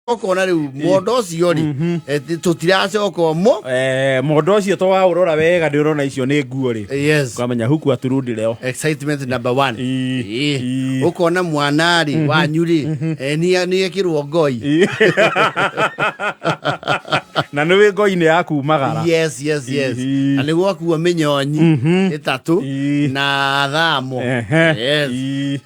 okona riu mondo ucio ri Mhm. tutiracoka mo Eh, mondo ũcio to waũrora wega ndĩ ũrona icio nĩ nguo rĩ yes ukamenya huku aturundi leo excitement number one Ii, Ii. ii. ukona mwana ri wanyu ri eh, ni- ni ekirwo ngoi Ii. na nĩ wĩ ngoi-inĩ ya kumagara yes yes yes Ii. na niguo akuo minyonyi Mhm. itatu Ii. na thamo Ehe. yes Ii.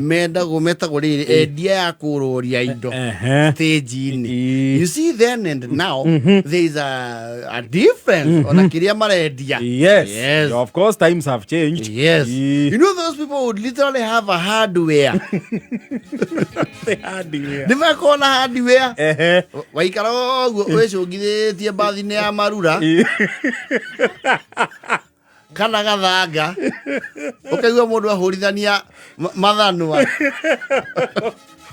metagwo metagwo rĩrĩ endia ya kũrũria indo Ehe. stage-inĩ Ii. you see then and now there is a, a difference ona kĩrĩa marendia Yes. Yes. Of course, times have changed. Yes. Ii. You know those people would literally have a hardware. Nĩ makoragwo na hardware. Ehe. Waikara ũguo wĩcũngithĩtie mbathi-inĩ ya marura. Ii. kana gathanga ukaigua mundu ahurithania ma- mathanwa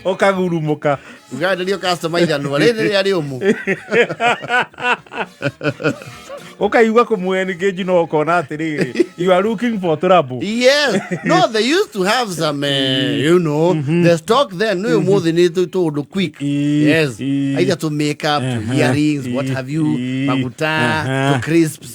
ũkagurumũka ugaenderio customer ithanwa rĩrĩ rĩa rĩũmũ ũkaigua kũmwengeji no ũkona atĩrĩrĩ you are looking for trouble yes no they used to have some uh, you know the stock then no umuthi ni tu tundu quick Ii, yes ii. either to make up to Aha. earrings what Ii, have you ii. maguta Aha. to crisps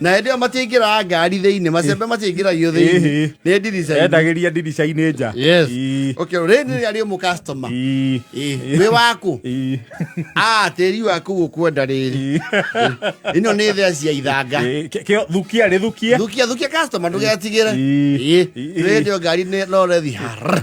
na hĩndĩ ĩyo matiaingĩraga ngari thĩinĩ macembe matiaingĩragio thĩinĩ Ĩhĩ. nĩ ndirica endagĩria ndirica-inĩ nja Yes. Ii. okay rĩrĩ nĩ rĩarĩ mũ customer Ii. Ĩ, wĩ waku Ii. ah tĩri waku gũkwenda rĩrĩ Ii. ĩno nĩ thea cia ithanga Ĩ, kĩ- kĩo- thukia rĩthukie thukia thukia customer ndũgetigĩre Ii. Ĩ, Ii. rĩrĩ nĩ ngari nĩ- no rethi har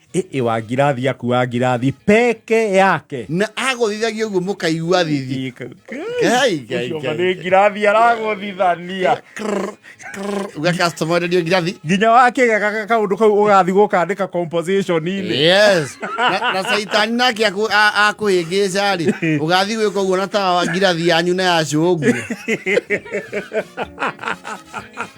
ĩ wa ngirathi akua ngirathi peke yake na agũthithagia ũguo mũkaigua thithi Ngai, Ngai, Ũcio Ngai. nĩ ngirathi aragũthithania Krr, krr, uga customer enderio ngirathi nginya wakĩgega kaũndũ kau ũgathi gũkandĩka composition-inĩ yes na, na caitani nake akũ- a- akũhĩngĩca rĩ ũgathi gwĩka ũguo na tawa ngirathi yanyu na yacũngwo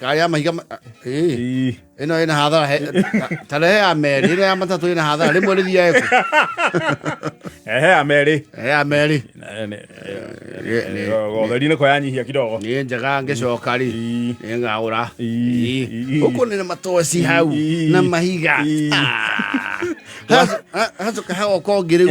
Kaya mahiga ii ino ina hathara tare he ameri ino ya matatu ina hathara rimwe ri thia eku ehe ameri ehe ameri gotheri ni ko yanyihia kidogo ni njega ngicoka ri ni ngagura guku ni matoci hau na mahiga hacoka hagoka ngiriu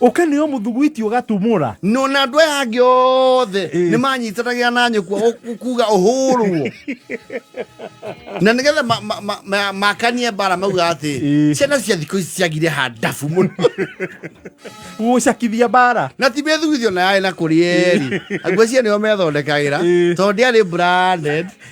Ũkĩneo mũthuguiti ũgatumũra. No na andũ aya angĩ othe eh. nĩ manyitanagĩra na nyũkwa kuga ũhũrwo na nĩgetha makanie mbara mauga atĩ eh. ciana cia thikũ ici ciagire handabu mũno gũcakithia mbara na ti mĩthugithio na yarĩ na kũrĩ eri eh. aguo cia nĩo methondekagĩra tondũ ndĩarĩ branded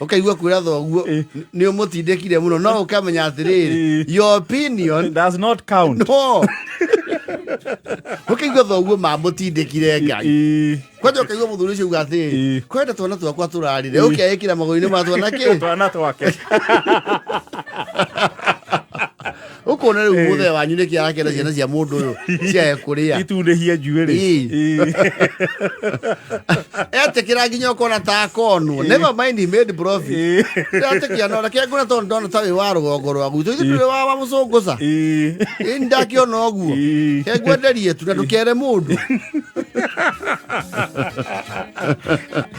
ukaigua kwira thoguo Eh. ni umutindikire muno no ukamenya atiriri Eh. your opinion does not count no ukaigua thoguo mamutindikire ngai Ii, kwanja ukaigua muthuri ucio uga atiriri Eh. kwenda twana twakwa turarire ukeikira maguru-ini ma twana ki twana twake ukona riu eh. muthe wanyu niki arakenda ciana cia mundu uyu ciae kuria itundihie njuiri etikira nginya ukona ta akonwo never mind he made profit atikia no reke ngona tondu ndona ta wi wa rugongo rwa gwitũ ithu ndũrĩ wa wa mũcũngũca ĩni ndakiona ũguo ke ngwenderie tu na ndũkere mũndũ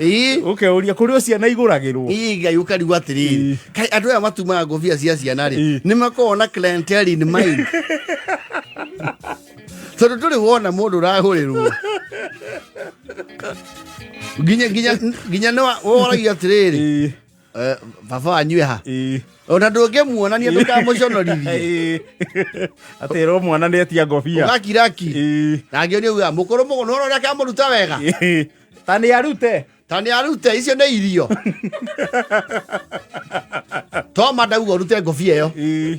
Ĩĩ. uke uria kuri o ciana iguragirwo Ĩĩ, ngai ũkarigu atĩrĩrĩ kai andũ aya matumaga ngobia cia ciana rĩ nĩ makoragwo na clientele in mind tondũ ndũrĩ wona mũndũ ũrahũrĩrwo nginya nginya nginya nĩ wa- woragia atĩrĩrĩ Eh, baba wanyu eha Ĩĩ. ona ndũngĩmuonania ndũkamũconorithie atĩrwo mwana nĩ etia ngobia ũgakiraki Ĩĩ. nangĩ nĩ uga mũkũrũ mũgũ nũra ũrĩa kamũruta wega Ĩĩ. ta nĩ arute ta nĩ arute icio nĩ irio toma ndauga ũrute ngobia ĩyo Ĩĩ.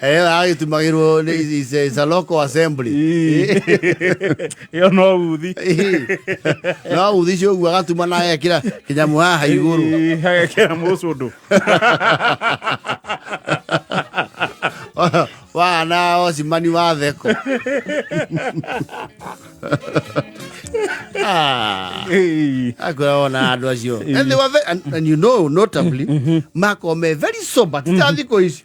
Eh, ai tumagirwo ni is a- is a local assembly ĩyo no uthi no uthi cio guo agatuma na ekira kinyamu haha iguru Ii, hagekera mũcũndũ wana ocimani wa theko Ah. Ii. akwira wona andå acio and they were ve- and, and you know notably makome very sober titathikå ici